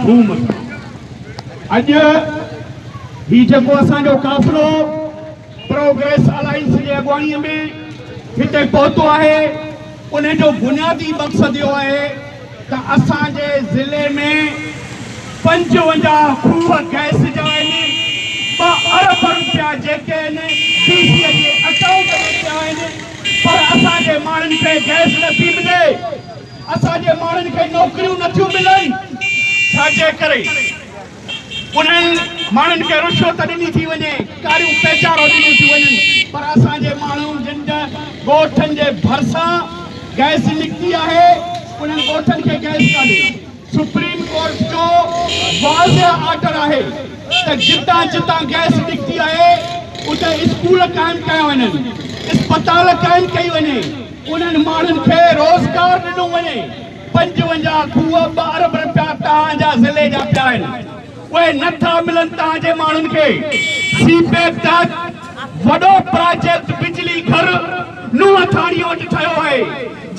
ڌوم سان اڄ هي جيڪو اسان جو قافلو پروگريس الائنس جي اڳواڻي ۾ هتي پهتو آهي ان جو بنيادي مقصد اهو آهي ته اسان جي ضلعي ۾ پنجونجاهه کوهه گئس جا آهن ٻه ارب روپيا جيڪي آهن ڊي سي جي اڪائونٽ ۾ پيا آهن پر اسان جي ماڻهن کي گئس نٿي ملي اسان جي ماڻهن کي نوڪريون نٿيون ملن ڇا جي ڪري انهن ماڻهن کي رشوت ڏني ٿي وڃي ڪاريون پيچارو ڏنيون ٿيون وڃن پر اسان جي ماڻهو جن جا ڳوٺن جي ڀرسان گئس نڪتي آهي انهن ڳوٺن کي گئس ڪانهي سپريم ڪورٽ جو واضح آرڊر آهي ته جتان جتان گئس نڪتي آهي اتي اسڪول قائم ڪيا وڃن، اسپتال قائم ڪئي وڃي، انهن ماڻهن کي روزگار ڏنو وڃي، پنجونجاهه کوهه ٻه ارب رپيا توهان جا ضلعي جا پيا آهن. اهي نه ٿا ملن تان جي ماڻهن کي سي پيڪ تحت وڏو پراجيڪٽ بجلي گهر نوح ٿاڻي وٽ ٺهيو آهي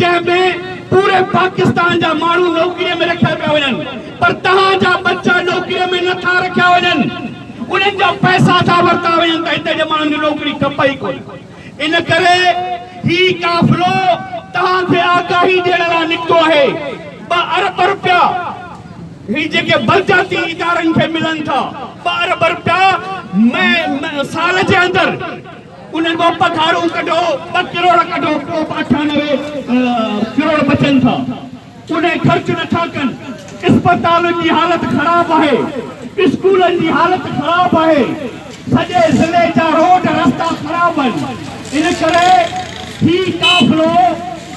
جنهن ۾ پوري پاڪستان جا ماڻهو نوڪري ۾ رکيا پيا وڃن پر توهان جا ٻچا نوڪري ۾ نه ٿا رکيا وڃن انهن جا پئسا ٿا ورتا وڃن ته هتي جي ماڻهن کي نوڪري کپي ئي ڪونه. ان ڪري هي قافلو توهان کي آگاهي ڏيڻ لاء نڪتو آهي، ٻه ارب رپيا هي جيڪي بلدياتي ادارن کي ملن ٿا، ٻه ارب رپيا سال جي اندر انهن مان پگهارون ڪڍو، ٻه ڪروڙ ڪڍو، پوء به اٺانوي ڪروڙ بچن ٿا. ڪڏهن خرچ نٿا ڪن، اسپتالن جي حالت خراب آهي، اسڪولن جي حالت خراب آهي، سڄي ضلعي جا روڊ رستا خراب آهن، ان ڪري هي قافلو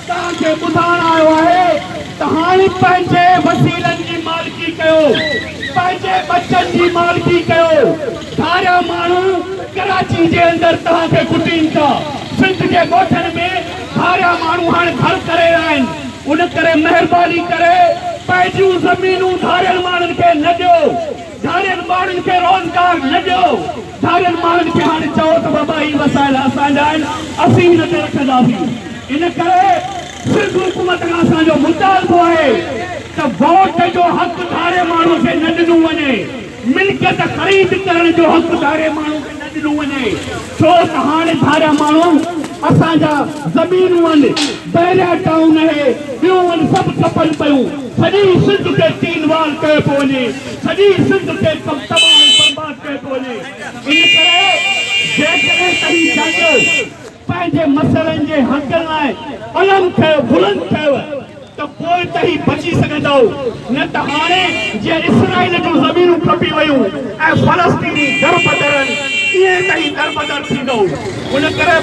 توهان کي ٻڌائڻ آيو آهي ته هاڻ پنهنجي وسيلن جي مالڪي ڪيو، پنهنجي ٻچن جي مالڪي ڪيو، ڌاريا ماڻهو ڪراچي جي اندر توهان کي ڪٽين ٿا، سنڌ جي ڳوٺن ۾ سارا ماڻهو هاڻ گهر ڪري ويا آهن ان ڪري مهرباني ڪري پنهنجيون زمينون ڌارين ماڻهن کي نه ڏيو ڌارين ماڻهن کي روزگار نه ڏيو ڌارين ماڻهن کي هاڻ چئو ته بابا هي وسائل اسان جا آهن اسين هن تي رکنداسين ان ڪري سنڌ حڪومت کان اسان جو مطالبو آهي ته ووٽ جو حق ڌاري ماڻهو کي نه ڏنو وڃي. ملڪيت خريد ڪرڻ جو حق ڌاري ماڻهو کي نه ڏنو وڃي ڇو ته هاڻي ڌاريا ماڻهو اسان جا زمينون ان بحريا ٽائون اهي ٻيون ان سڀ کپن پيون سڄي سنڌ کي تين وال ڪيو پيو وڃي سڄي سنڌ کي تباهه ۽ برباد ڪيو پيو وڃي ان ڪري جيڪڏهن توهين چاهيو پنهنجي مسئلن جي حقن لاء علم ڪيو، بلند ڪيو ته پوء ته هي بچي سگهندؤ، نه ته هاڻي جيئن اسرائيل جون زمينون کپي ويون ۽ فلسطيني دربدرن، ائين ته هي دربدر ٿيندؤ. ان ڪري.